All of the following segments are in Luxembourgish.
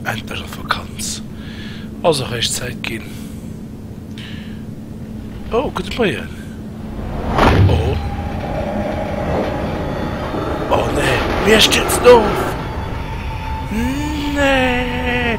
Endlech op Vakanz, ass och eréischt Zäit ginn. Oh gudde Moien, oh oh nee, mir stierzen of, nee.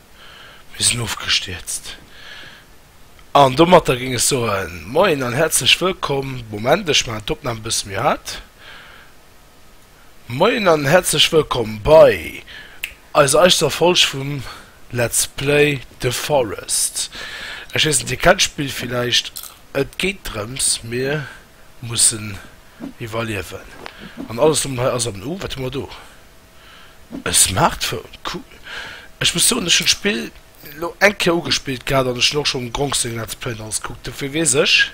Mir sinn ofgestierzt. An domatter géing ech soen, Moien an häerzlech wëllkomm. Moment, ech maachen d'Opnam e bësse méi haart. Moien an häerzlech wëllkomm bei eiser eichter Folg vum Let's Play The Forest. Ech weess net, Dir kennt d'Spill villäicht. Et geet drëms, mir mussen iwwerliewen. An alles do mat hei ass am U. Wat hu mer do? E Smartphone? Cool. Ech muss soen, ech hunn d'Spill lo eng Kéier ugespillt gehat an ech hunn och schonn Gronk seng Let's Play an alles gekuckt. Dofir weess ech,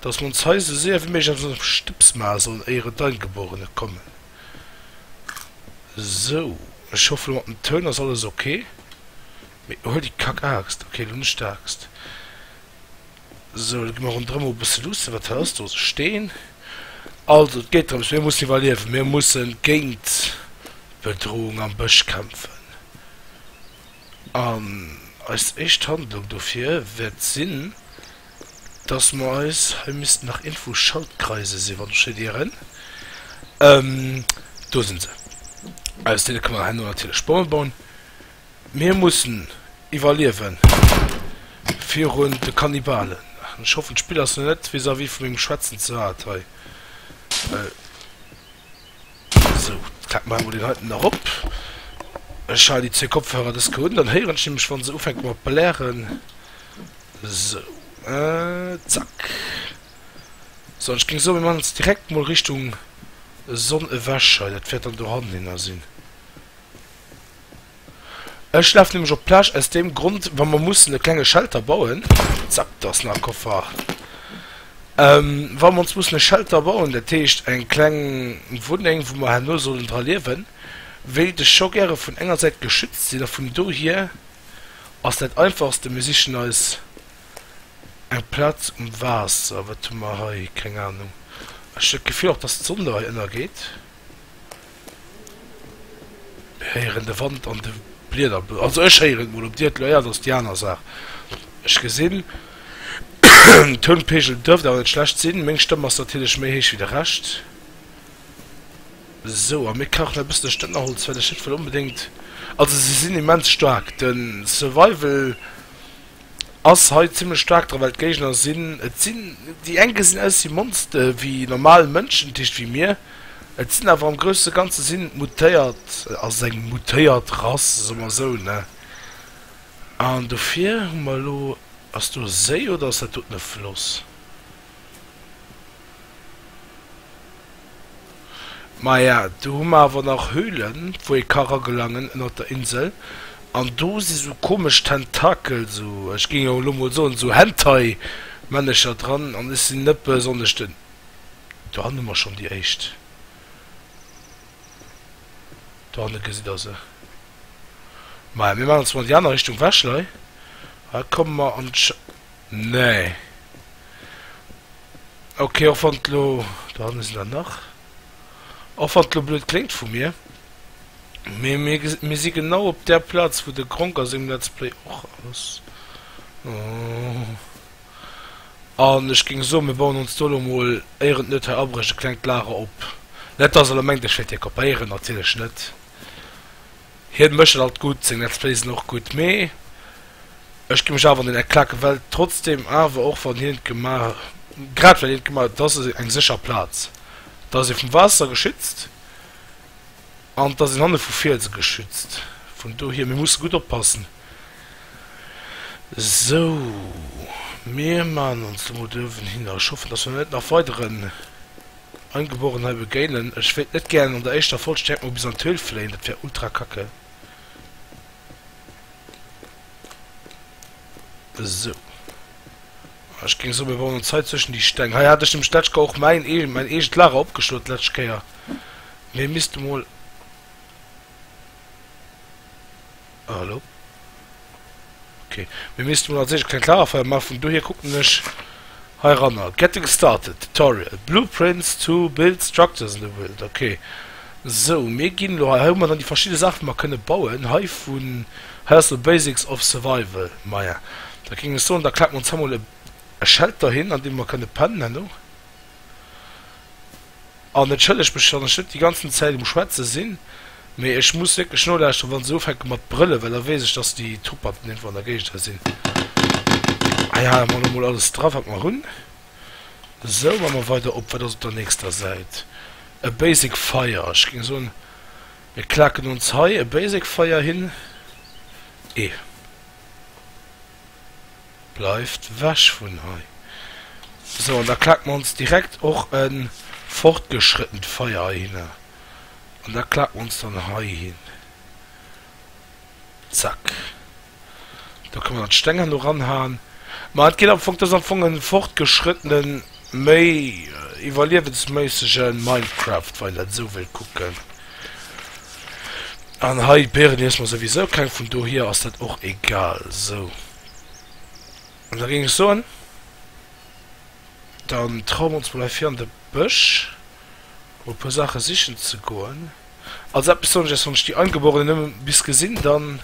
dass mer ons hei esou séier wéi méiglech eppes ënnerm Stëbs maache sollen, éier et d'Eingeborene kommen. Sou, ech hoffe lo mat dem Toun ass alles ok. Mee huel déi Kack-Aaxt. Ok, lo net d'Aaxt. Sou, da gi mer ronderëm e bësse luussen. Wat hëlls du? Also Steen. Also et geet drëms, mir mussen iwwerliewen. Mir musse géint d'Bedroung am Bësch kämpfen. An eis éischt Handlung dofir wäert sinn, datt mer eis, hei missten nach iergendwou Schaltkreise sinn, wann ech richt ieren, do si se, aus deene kënne mer herno natierlech Bomme bauen. Mir mussen iwwerliewen virun de Kannibalen. Ech hoffen d'Spill ass lo net vis-à-vis vu mengem Schwätzen ze haart hei. Sou, d'Kap maache mer deen heiten erop. Ech halen déi zwee Kopfhörer des ke un, dann héieren ech nämlech wann se ufänke mat blären. Sou, zack. Sou, an ech géing soen, mir maachen ons direkt mol Richtung Sonn ewech hei, dat wäert dann dohannen hinner sinn. Ech laf nämlech op d'Plage aus deem Grond, wa mer mussen e klenge Shelter bauen, zack, do ass nach e Koffer, wa mer ons mussen e Shelter bauen, dat heescht eng kleng Wunneng, wou mer herno sollen dra liewen, wéilt ech scho gäre vun enger Säit geschützt sinn. A vun dohier ass dat Einfachste, mir sichen eis eng Plaz um Waasser. Wat hu mer hei? Keng Anung. Ech hunn d'Gefill och, dass d'Sonn do hei ënnergeet. Mir héieren de Wand an de Blieder blusen. Also ech héieren et mol, op dir et elo héiert ass déi aner Saach. Ech gesinn den Tounpegel duerft awer net schlecht sinn, meng Stëmm ass natierlech méi héich wéi de Rescht. Sou, a mir kachen e bëssen Stënnerholz well ech net wëll onbedéngt, also se sinn immens staark den Survival. ass hei zimlech staark dra well d'Géigner sinn et sinn déi eng gesinn aus wéi Monste wéi normal Mënschen dat heescht wéi mir et sinn awer am grousse Ganze sinn et mutéiert ass et eng mutéiert Rass soe mer esou ne an dofir hu mer elo ass do e Séi oder ass dat doten e Floss? Maja, do hu mer awer nach Höhlen, wou ee ka ragelangen ënnert der Insel. An do si sou komesch Tentakel, sou, ech géing jo elo mol soen, sou Hentai-Männecher dran. An ech sinn net besonnesch den. Dohanne hu mer schonn déi éischt. Dohanne gesitt Der se. Maja, mir maachen ons mol an déi aner Richtung wech, Lei. Hei komme mer an. Nee. Ok, och wann et lo, do hanne sinn der nach, och wann et lo blöd kléngt vu mir, mee mir ge mir si genau op där Plaz wou de Gronkh a sengem Let's Play och ass. An ech géing soen, mir bauen ons do lo mol, éier et net hei abrécht, e klengt Lager op. Net dass elo mengt ech wäert hie kopéieren, natierlech net. Hien mécht dat alt gutt, seng Let's Plays sinn och gutt, mee ech gi mech awer an den Eklat gewellt, trotzdem awer och wann hien et gemaach, grad well hien et gemaach huet, et ass eng sécher Plaz, et ass ee vum Waasser geschützt an et ass een hanne vu Fielse geschützt, vun dohier mir musse gutt oppassen. Sou, mir maachen ons lo mol do uewen hin a ech hoffen dass mer net nach weideren Angeborenen hei begéinen. Ech wéilt net gären an der éischter Folg direkt mol bis an d'Höhl fléien, dat wär ultra kacke. Esou. Ah, ech géing soen, mir bauen ons hei zwëschen déi Steng. Hei hat ech nämlech d'letzt Kéier och mäin eegen, mäin eegent Lager opgeschloen d'letzt Kéier. Mee misst emol. Ah, hallo. Ok. Mir missten mol als éischt e klengt Lagerfeier maachen. Vun dohier kucken ech heiranner. Getting started. Tutorial. Blueprints to build structures in the wild. Ok. Sou, mir ginn elo hei. Hei hu mer dann déi verschidde Saachen, déi mer kënne bauen. Hei vun. Hei ass elo Basics of survival. Maja, da géing ech soen, da klappe mer ons hei mol e Shelter hin, an deem mer kënne pennen. Herno. An entschëllegt mech, wann ech net déi ganzen Zäit um schwätze sinn, mee ech muss wierklech nolauschteren, wann se ufänke mat brëllen, well da weess ech, dass déi Truppanten iergendwou an der Géigend hei sinn. Hei hale mer elo mol alles dra, wat mer hunn. Esou, ma mer weider op. Wat ass op der nächster Säit? E Basic Fire. Ech géing soen, mir klaken ons hei e Basic Fire hin. E. Bleift wech vun hei. So, an da klaken mer ons direkt och e fortgeschrëttent Feier heihinner. An da klaken mer ons dann heihin. Zack. Da kënnen mer dann d'Steng herno ranhaen. Ma et geet am Fong, dat ass am Fong e fortgeschrëttenen. Méi iwwerliewensméissegen Minecraft wann een dat esou wëllt kucken. An hei d'Pieren iess mer souwisou keng, vun dohier ass dat och egal. Sou an da géing ech soen dann trauen mer ons mol hei vir an de Bësch mol e puer Saache sichen ze goen. Also eppes soen ech iech, wann ech déi Eingeborenen nëmme bis gesinn dann.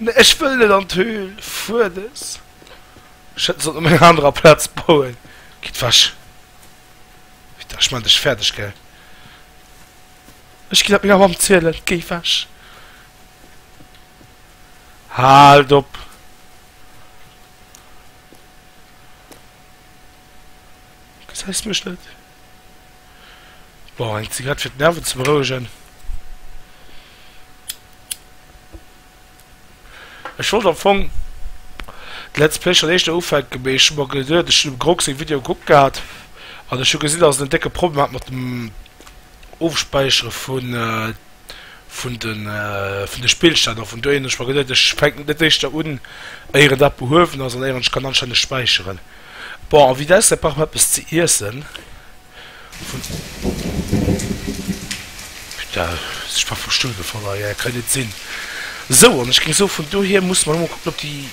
Nee ech wëll net an d'Höhl Fuedes. Ech hätt sollen op enger anerer Platz bauen. Gitt wech! Wéi dach ech mengt ech fäerdeg gär. Ech ginn dat menger Mamm zielen. Géi wech! Haalt op! Gesäis mech net? Bon, eng Zigarett fir d'Nerven ze berouegen. Ech wollt am Fong d'Lets Play schon éischter ufänken, mee ech hu mer geduet, ech hunn dem Grog seng Video gekuckt gehat an ech hu gesinn, dass en en décke Problem hat mat dem Ofspäichere vun vun de Spillstänn of. An do hunn ech mer geduet, ech fänken net éischter un, éier dat behuewen ass an éier ech kann anstänneg späicheren. Bon, a vitesse brauch mer eppes ze iessen. Putain, ech war vum Stull gefall hei, dat kann jo net sinn. Sou, an ech géing soen, vun dohier musse mer elo mol kucken, ob déi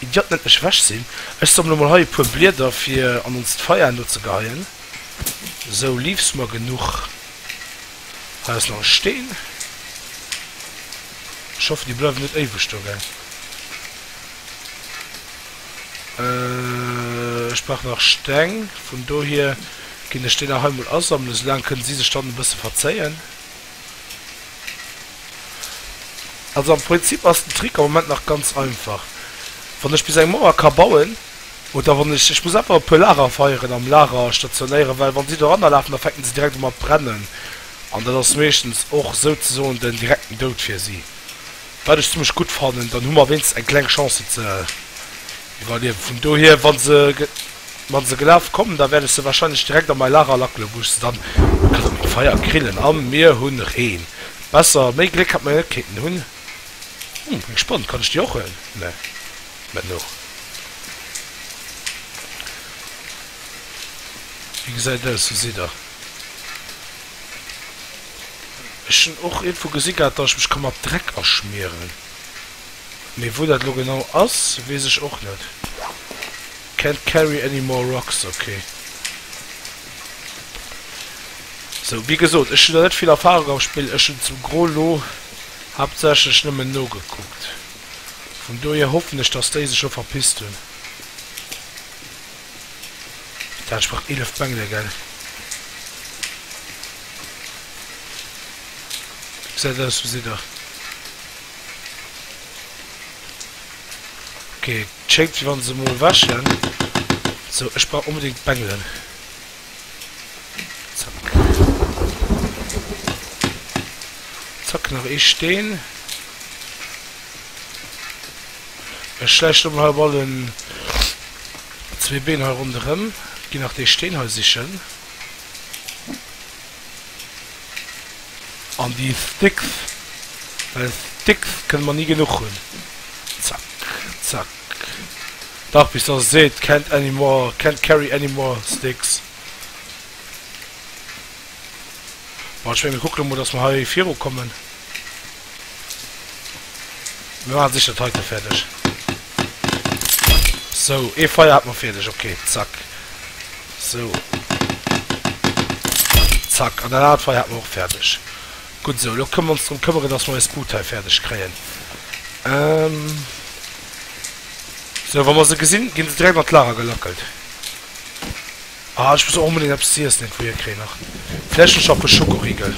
Idiotten net mech ewech sinn. Ech sammele mol hei e puer Blieder, fir an onst Feier enno ze geheien. Sou, Leaves hu mer genuch. Da ass nach e Steen. Ech hoffen, déi bleiwen net éiweg do, gell. Ech brauch nach Steng. Vun dohier ginn ech déi nach hei mol asammelen. Esou laang kënnen si sech dann e bësse verzéien. Also am Prinzip ass den Trick am Moment nach ganz einfach. Wann ech bis eng Mauer ka bauen, Oder wann ech, ech muss einfach e puer Lagerfeieren am Lager stationéieren, well wann si do erannerlafen, da fänken si direkt u mat brennen an dat ass meeschtens och souzesoen den direkten Doud fir si, wat ech zimmlech gutt fannen. Dann hu mer wéinstens eng kleng Chance se ze iwwerliewen. Vun dohier, wa se, wa se gelaf kommen, da wäert ech se wahrscheinlech direkt a mäi Lager lackelen, wou ech se dann kann op engem Feier grillen. A mir hunn Reen. Besser, méi Gléck hätt mer net kéinten hunn. Hm, eng Sponn, kann ech déi och huelen? Nee. Mä no Wéi gesäit aus? Wou sidd Der? Ech hunn och iergendwou gesi gehat, datt ech mech ka mat Dreck aschmieren. Mee wou dat elo genau ass, weess ech och net. Can't carry any more rocks, ok. Sou, wéi gesot, ech hunn der net vill Erfarung am Spill. Ech hunn zum Gros elo haaptsächlech nëmmen nogekuckt. Vun dohier hoffen ech dass déi sech scho verpisst hun. Dat entsprecht 11 Bengele gell? Gesäit aus wou Sidder. Ok schéngt wéi wann se mol wäschen. Sou ech brauch onbedingt Bengelen. Zack, nach ee Steen. Ech schläiche lo mol hei op allen zwee Been hei ronderëm. Ginn nach dee Steen hei sichen. An déi Sticks, well Sticks kënne mer ni genuch hunn. Zack, zack. Dach bis dass e seet can't anymore, can't carry anymore sticks. Bon, ech menge mir kucken emol dass mer hei viru kommen. Mir maache sécher d'Heite fäerdeg. Sou, ee Feier hat mer fäerdeg, ok, zack. Sou. Zack, an dat anert Feier hat mer och fäerdeg. Gutt esou. Elo kënnen mer ons drëm këmmeren, dass mer eis Bud hei fäerdeg kréien. Esou, wa mer se gesinn, gi se direkt an d'Lager gelackelt. Ah, ech muss och onbedéngt eppes ze iessen iergendwou hierkréien nach. Vläicht hunn ech nach e puer Schokoriegel.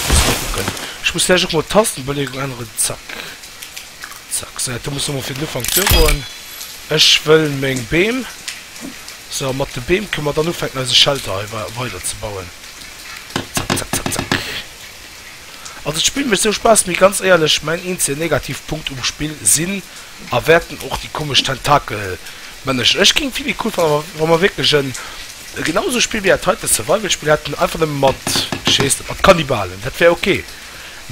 Muss mol kucken. Ech muss vläicht och mol d'Tastenbeleegung änneren. Zack. Zack. Esou, dat do muss emol fir den Ufank duergoen. Ech wëll meng Beem. Esou, a mat de Beem kënne mer dann ufänken, eise Shelter hei weiderzebauen. Also d'Spill mecht sou Spass, mee ganz éierlech mäin eenzegen Negativpunkt um Spill sinn a wäerten och déi komesch Tentakelmännechen. Ech géing vill méi cool fannen, wa wa mer wierklech en e genau esou Spill wéi dat heiten, e Survival-Spill hätten, einfach nëmme mat, wéi heesst et, mat Kannibalen. Dat wär ok,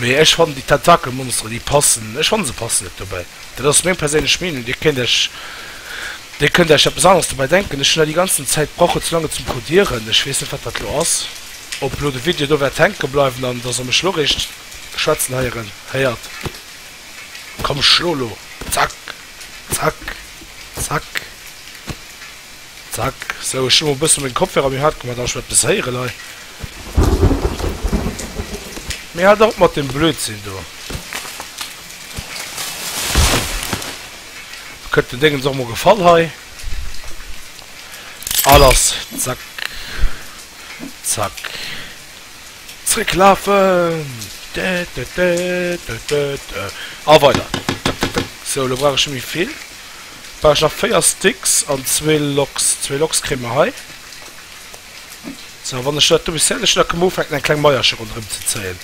mee ech fannen déi Tentakelmonsteren, déi passen, ech fanne se passen net dobäi. Dat ass meng perséinlech Meenung. Dir kéint Äech, Dir kënnt Äech eppes aneres dobäi denken. Ech hunn da déi ganzen Zäit gebraucht, fir ze laang et ze encodieren. Ech weess net, wat dat elo ass, ob elo de Video do wäert hänke bleiwen an dass Der mech elo eréischt schwätzen heieren héiert. Komm, schlo elo! Zack! Zack! Zack! Zack, sou ech hu mol bëssen meng Kopfhörer méi haart gemat, an ech well eppes héieren hei. Mee halt op mat dem Blödsinn do. Kënnt den Déngens och mol gefall hei. A lass, zack, zack, zréck lafen, dä dä dä dä dä dä, a weider. Tuk tuk tuk, sou elo brauch ech net méi vill. Brauch ech nach 4 Sticks an zwee Loks. Zwee Loks kréie mer hei. Sou, a wann ech dat do bis fäerdeg hunn, da kënne mer ufänken, eng kleng Maillercher ronderëm ze zéien.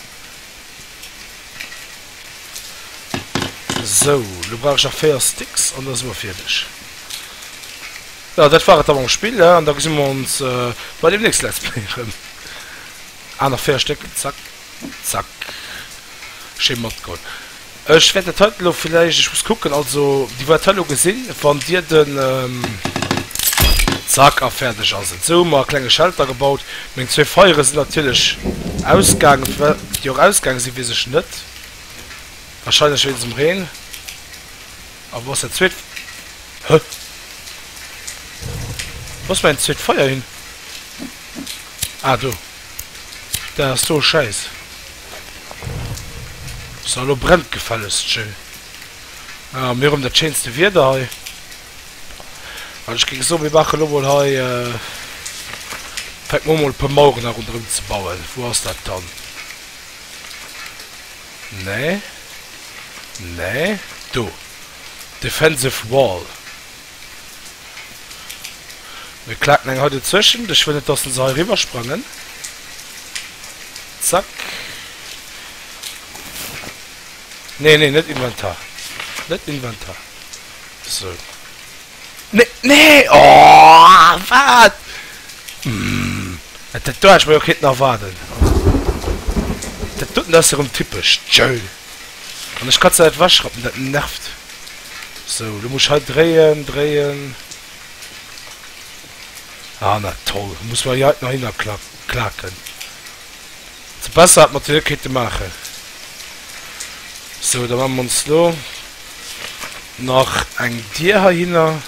Sou, elo brauch ech nach 4 Sticks an da si mer fäerdeg. Jo, dat war et da mam Spill, an da gesi mer ons bei dem nächste Let's Play erëm. Aner 4 Stéck, zack. Zack. Schéin matgeholl. Ech wäert dat heiten elo villäicht, ech muss kucken, also dir wäert hei elo gesinn, wann dir den, zack, a fäerdeg ass et. Sou hu mer e klenge Shelter gebaut. Meng zwee Feiere sinn natierlech ausgaangen. Firwat déi och ausgaange sinn, weess ech net. Wahrscheinlech wéinst dem Reen. A wou ass dat zweet? Hä? Wou ass mäin zweet Feier hin? Ah, do. Dat ass do schäiss. Sou, elo brennt et gefällegst schéi. Ah, mir hunn dat schéinste Wieder hei. An ech géing soen, mir maachen elo mol hei, fänke mer u mol e puer Maueren hei ronderëm ze bauen. Wou ass dat dann? Nee, nee, do, Defensive Wall. Mir klaken eng hei dozwëschent. Ech wëll net, dass en se hei eriwwersprangen. Zack. Nee, nee, net Inventar. Net Inventar. Sou. Nee, nee! Oh! Wat? Dat do hat ech mer jo kenten erwaarden. Dat doten, dat ass jo erëm typesch. Tjööll! An ech kann se net ewechrappen, dat nervt. Sou, elo muss ech hei dréien, dréien. Ah, na toll, elo muss mer hei nach hinnerklaken. Also besser hätt mer d'Wierk kéinte maachen. Sou, da maache mer ons elo nach eng Dier heihinner.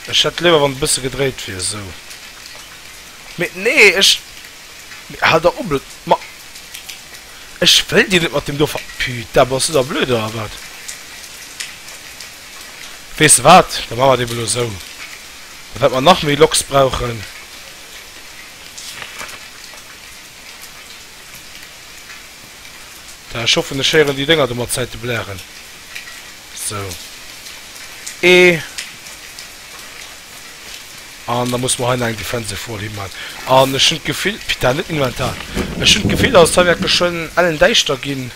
Ech hätt léiwer, wann e bësse gedréit wier. Sou. Mee nee, ech. Hal der op et ma ech wëll dir net mat dem do ver. Putain bass du da blöd oder wat? Weess de wat, da maache mer et eben elo esou, da wäerte mer nach méi Loks brauchen. Da ech hoffen ech héieren déi Dénger do mat Zäite blären. Sou ee. An da muss mer hei nach eng Defensive Wall himan. An ech hunn d'Gefill, Pita, net Inventar, ech hunn d'Gefill, datt et hei wäert geschwënn ellendäischter ginn.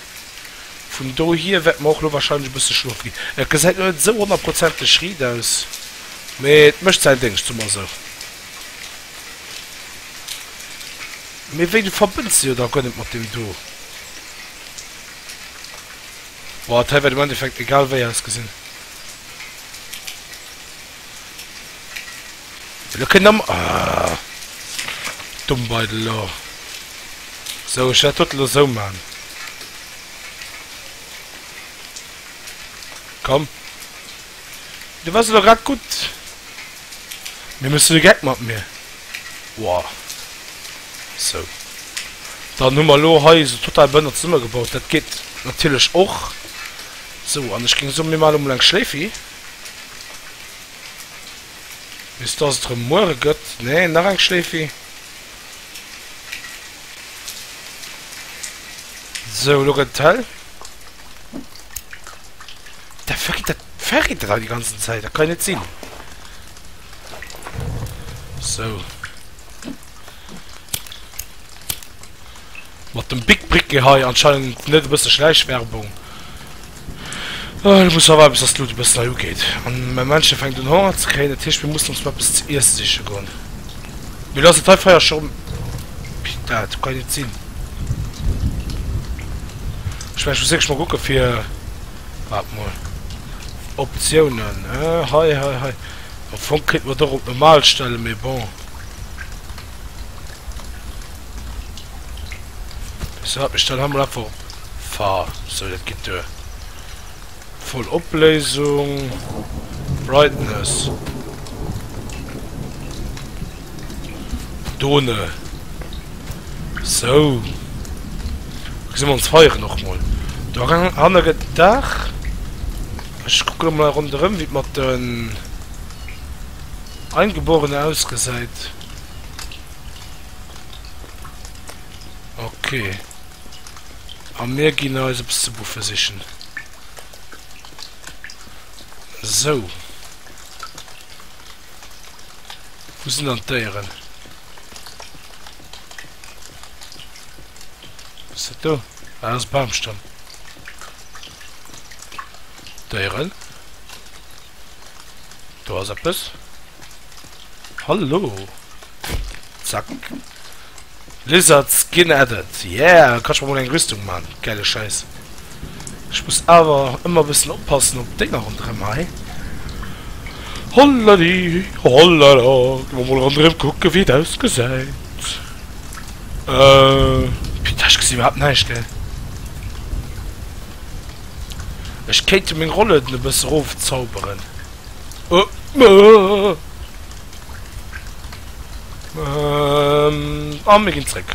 Vun dohier wäerte mer och elo warscheinlech e bësse schlofe ginn. Et gesäit elo net esou honnertprozenteg riit aus, mee et mécht säin Déngscht, soe mer esou. Mee wéi, du verbënns de jo da guer net mat deem do? Boah, dat hei wäert am Endeffekt egal wéi ausgesinn. Lo kënnt am. Ahh. Domm Beidel lo. Sou, ech wäert dot lo sou man. Komm. Du wars elo grad gutt. Mee méchs de de Geck mat mir? Woah. Sou. Dann hu mer lo hei esou total behënnert zesummegebaut. Dat geet natierlech och. Sou, an ech géing soen, mir man emol eng Schléifi. Bis dass et rem muere gëtt. Nee, nach eng Schleefi. Sou, elo gëtt et hell. Dat verritt, dat verritt et all déi ganzen Zäit. Dat kann jo net sinn. Sou. Mat dem Bic Briquet hei anscheinend net e bësse Schläichwerbung. Ech muss awer eppes, dass d'Lut e bëssen hei ugeet. Mä Männchen fänkt un Honger ze kréien, dat heescht mir mussen ons mol eppes ze iesse siche goen. Mee elo ass dat hei Feier scho rëm. Pita, dat kann jo net sinn. Ech mengen ech muss wierklech mol kucke fir, waart mol, Optiounen, hei, hei, hei. Am Fong kéinte mer et och op normal stellen, mee bon. Weess de wat, mir stellen hei mol einfach op. Fa, sou dat gitt duer. Voll Opléisung, Brightness, Done, sou. Lo gesi mer ons Feieren och mol. Do hanne gëtt et Dag. Ech kucke lo mol ronderëm wéi et mat den Eingeborene ausgesäit. Ok. A mir ginn eis eppes ze buffe sichen. Sou. Wou sinn dann d'Déieren? Wat ass dat do? Ah, dat ass e Bamstamm. Déieren, do ass eppes. Hallo! Zack! Lizard Skin added! Yeah! Kann ech mer mol eng Rüstung man! Gäile Schäiss! Ech muss awer ëmmer bëssen oppassen op d'Dénger ronderëm hei. Holladi! Hollala! Gi mer mol ronderëm kucken, wéi et ausgesäit. Euh. Putain, ech gesi iwwerhaapt näischt, gell? Ech kéinte meng Rollen e bësse erofzauberen. An mir ginn zréck.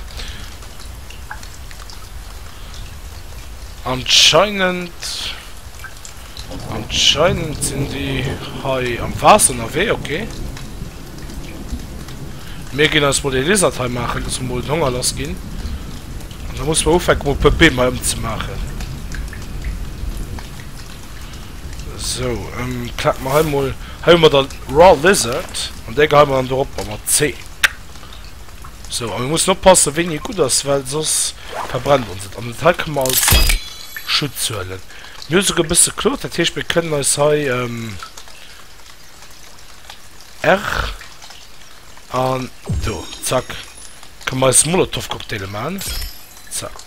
Anscheinend anscheinend sinn déi hei am Waasser ënnerwee, okay. Mir ginn eis mol ee Lizard hei maachen, dass mer mol den Honger lass ginn. An da muss mer ufänke mol e puer Beem hei ëmzemaachen. Sou, ähm, klack mer hei mol, hei hun mer dann Raw Lizard, an dei geheien mer dann dorop, a mat C. Sou, a mir mussen oppassen wéini e gudd ass, well soss verbrennt ons et, an dat hei kënnen mer als Schutz huelen. Mir hu souguer e bësse Klot, dat heescht mir kënnen eis hei, ähm, R, an do, zack, kënnen mer eis Molotowcocktaile man, zack.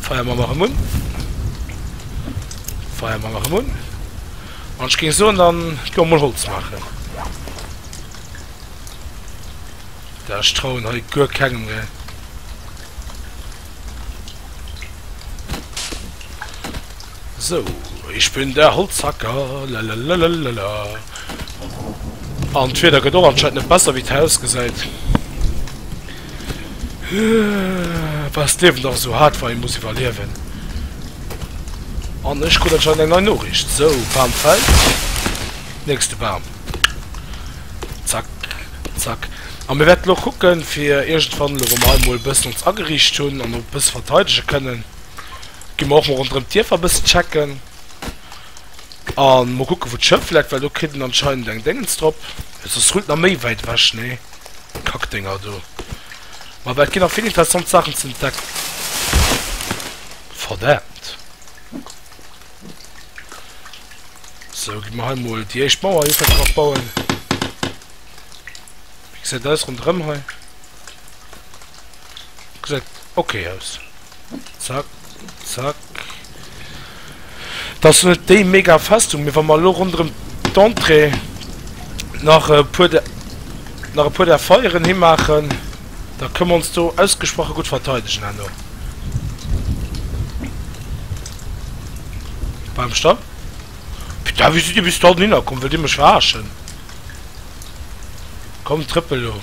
Feier mer nach emun. Feier mer nach emun. An ech ging soen dann ech go mol Holz maachen. Da ech trauen hei guer kengem ne. So ich bin der Holzhacker lalalala. An d'Wieder gëtt och anscheinend net besser wéi d'Haus gesäit. Bah es d'Liewen dach esou haart wa ee muss iwwerliewen. An ech krut anscheinend eng nei Noriicht. Sou, Bam fällt, nächste Bam. Zack, zack. A mir wäerten och kucken, fir iergendwann, elo wa mer hei emol e bëssen ons ageriicht hunn an e bësse verteidege kënnen, gi mer och mol ronderëm d'Dierfer e bëssen checken. A mol kucke wou d'Schëff läit, well do kritt een anscheinend eng Déngens drop. Soss rullt nach méi wäit ewech, nee? Kackdinger do. Ma et ginn nach vill interessant Saachen ze entdecken. Verdaamt. Sou, gi mer hei mol déi éischt Mauer jo fir bauen. Wéi gesäit aus ronderëm hei? Gesäit okay aus. Zack, zack. Et ass net déi mega Festung, mee wa mer elo ronderëm d'Entrée nach e puer der, nach e puer där Foyeren himaachen, da kënne mer ons do ausgesproche gutt verteidegen herno. Bam, Stopp! Putain, wéi sidd Dir bis dohinner komm? Wëllt Dir mech verarschen? Komm trëppel lo.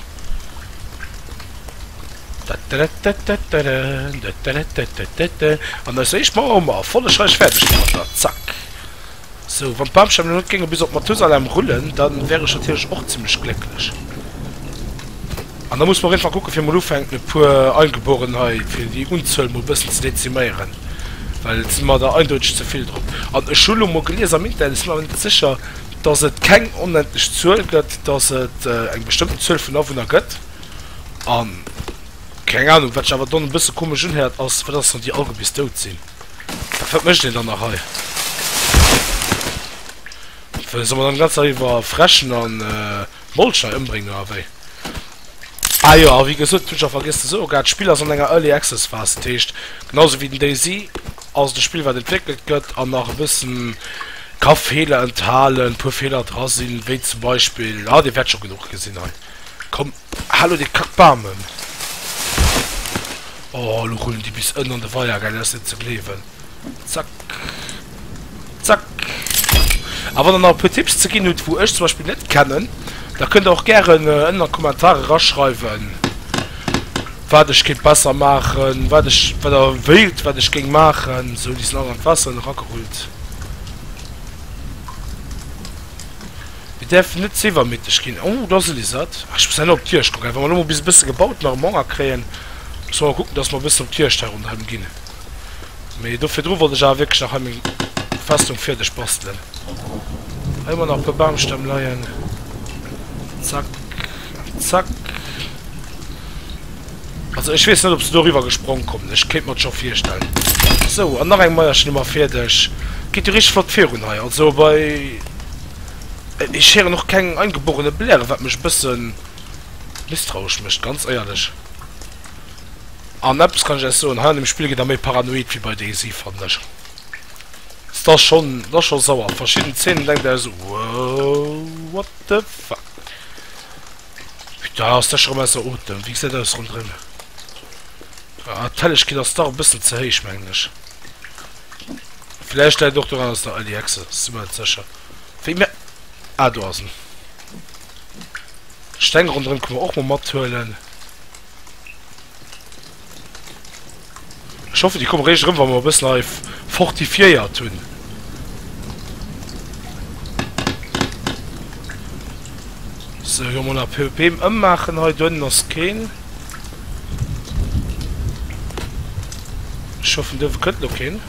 An eis éischt Mauer hu mer erfollegreich fäerdeg gemaach da. Zack. Sou, wann d'Bamstämm lo net géinge bis op Mathusalem rullen, da wär ech natierlech och zimlech glécklech. An da muss mer op jidde Fall kucke fir mol ufänken e puer Eingeborenen hei, fir déi Unzuel mol e bëssen ze deziméieren, well et si mer der eindeutig ze vill drop. An ech hu lo mol gelies am Internet, ech sinn awer net sécher, dass et keng onendlech Zuel gëtt, dass et eng bestëmmten Zuel vun Awunner gëtt an, keng Anung, wat sech awer dann e bësse komesch unhéiert, ass, wat ass, wann déi allge bis dout sinn? Wat, wat mécht een dann nach hei? Soll mer dann d'ganz Zäit iwwer frechen an. Molcher embrengen oder wéi? Ah jo, a wéi gesot, hunn ech nach vergiess ze soen, grad d'Spill ass an enger Early Access Phase, dat heescht genau esou wéi den DayZ ass et e Spill wat entwéckelt gëtt an nach e bëssen ka Feeler enthalen, e puer Feeler dra sinn, wéi zum Beispill, ah dir wäert scho genuch gesinn hei, komm, halo dee kack Bam ëm, oh elo rullen déi bis ënnen an de Weier, geil, dat ass net ze gleewen. Zack. Zack. A wann der nach e puer Tipps ze ginn hutt, wou ech zum Beispill net kennen, da kënnt der och gären ënnen an d'Kommentare raschreiwen, wat ech kéint besser maachen, wat ech, wat der wéilt, wat ech géing maachen. Sou, déi sinn all an d'Waasser ënne ragerullt. Mir däerfen net ze iwwermüteg ginn. Oh, do ass e Lisert. Ah, ech muss herno op d'Juegd kucken. Wa mer elo mol bis e bësse gebaut nach am Honger kréien, muss mer mol kucken, dass mer e bëssen op d'Juegd hei ronderëm ginn. Mee do virdru wollt ech awer wierklech nach hei meng Festung fierdeg bastelen. Hei hu mer nach e puer Bamstämm leien. Zack, zack. Also ech weess net, ob se do eriwwer gesprong kommen. Ech kéint mer et scho virstellen. Sou, an nach eng Maierchen hu mer fierdeg. Geet jo richteg flott virun hei. Also bei. Ech héieren och keng eingeborene Bläre, wat mech e bësse misstrauesch mécht, ganz éierlech. An eppes kann ech lech soen, hei an deem Spill gëtt der méi paranoid wéi bei DayZ, fannen ech. S, T'ass schonn, t'ass schonn sauer. Verschidden Zeenen denkt der esou, Wouw, what the fuck. Putain, ass dech erëm ausser Otem. Wéi gesäit aus ronderëm? Ah, d'Hellegkeet ass dach e bëssen ze héich, mengen ech. Vläicht läit och doran, dass der Early Access ass, si mer net sécher. Wéi mä. Ah, do ass en. D'Steng ronderëm kënnen mer och mol mathuelen. Ech hoffen déi komme réischt erëm wa mer e bëssen hei fortifiéiert hunn. Sou elo mol nach e Beem ëmmaachen hei. Doënnen ass keen. Ech hoffen d'Uewe kënnt elo keen.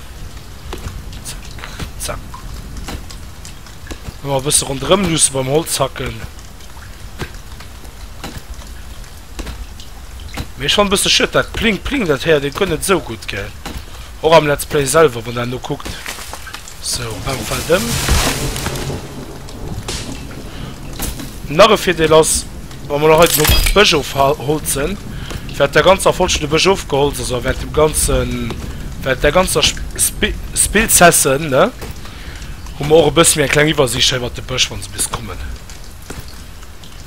Zack zack. Ëmmer e bësse ronderëm luusse beim Holz hacken. Mee schon bësse schued, dat Pling Pling dat héiert een guer net esou gutt gell. Och am Let's Play selwer wann en ukuckt. So Rem fält ëm. Nach e Virdeel ass, wa mer heiten um Bësch ofholzen, wäert der ganzer Folsche de Bësch ofgeholzt ass a wäert dem ganzen, wäert der ganzer Spi Spillsessen, ne, hu mer och e bësse méi eng kleng Iwwersiicht hei iwwert de Bësch wann se bis kommen.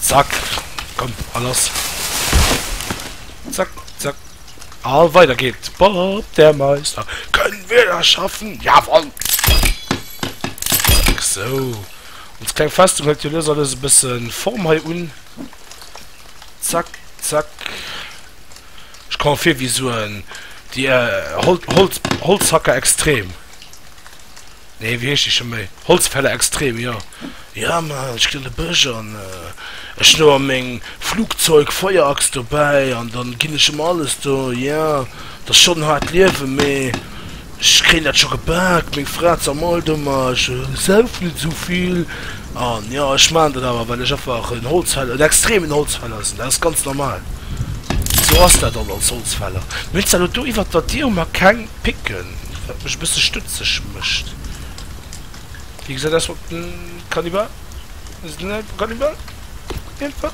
Zack. Komm, a lass. Zack, zack. A weider geet. Bob, der Meister. Können wir das schaffen? Jawoll! Zack, sou. Ons kleng Festung hëlt jo lues a lues e bësse Form hei un. Zack, zack. Ech komme vir wéi sou en. Déi Holz, Holz, Holzhacker extrem. Nee wéi heescht déi scho méi? Holzfäller extrem, jo. Ja man ech gin an de Bësch an ech hun awer meng Flugzeug Feuerachs dobäi an dann gin ech ëm alles do. Ja dat ass schon haart Liewen mee ech kréien dat scho gebaak. Meng Fra zermollt ëmmer ech saufen net esou vill an jo ech maan dat awer well ech einfach en Holzfäll en extremen Holzfäller sin. Dat ass ganz normal, esou ass dat dann als Holzfäller. Mir hun zwar elo do iwwert der Diir hu mer keng picken, wat mech e bësse stutzeg mécht. Wéi gesäit aus mat den Kannibal? Ass et net e Kannibal? Iergendwou?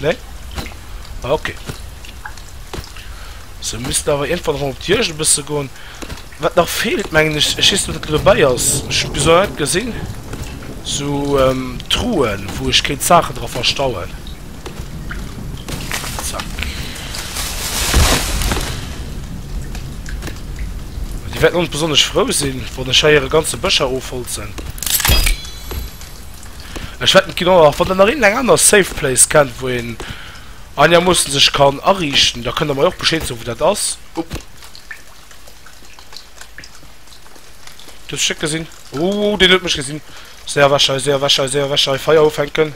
Nee? Ah, okay. Se missten awer iergendwann erëm op d'Juegd e bësse goen. Wat nach feelt, mengen ech, ech weess net, wat do dobäi ass, ech hu bis elo net gesinn, sou Truhen, wou ech kéint Saachen dra verstauen. Di wäerten ons besonnesch frou sinn, wann ech hei hire ganze Bëscher ofholzen. Ech wäert net ginn och wann der nach een eng aner Safe Place kennt, wou een einermoossen sech kann ariichten, da kënnt der mei och Bescheed soen, wou dat ass. Up! Du hues mech net gesinn? Ouu, deen huet mech gesinn! Séier ewech hei, séier ewech hei, séier ewech hei! Feier ufänken!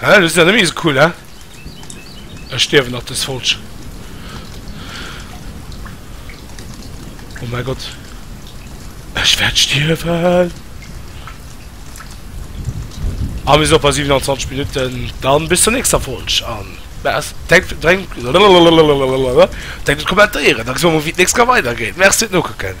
Hä, dat ass jo net méi sou cool, hä? Ech stierwen nach dës Folg. Oh mäi Gott. Ech wäert stierwen. A mir sinn och bei 27 Minutten. Dann bis zur nächster Folg an Merci, denkt denkt denkt un d'Kommentéieren, da gesi mer mol wéi d'nächst ka weidergeet. Merci fir d'Nokucken.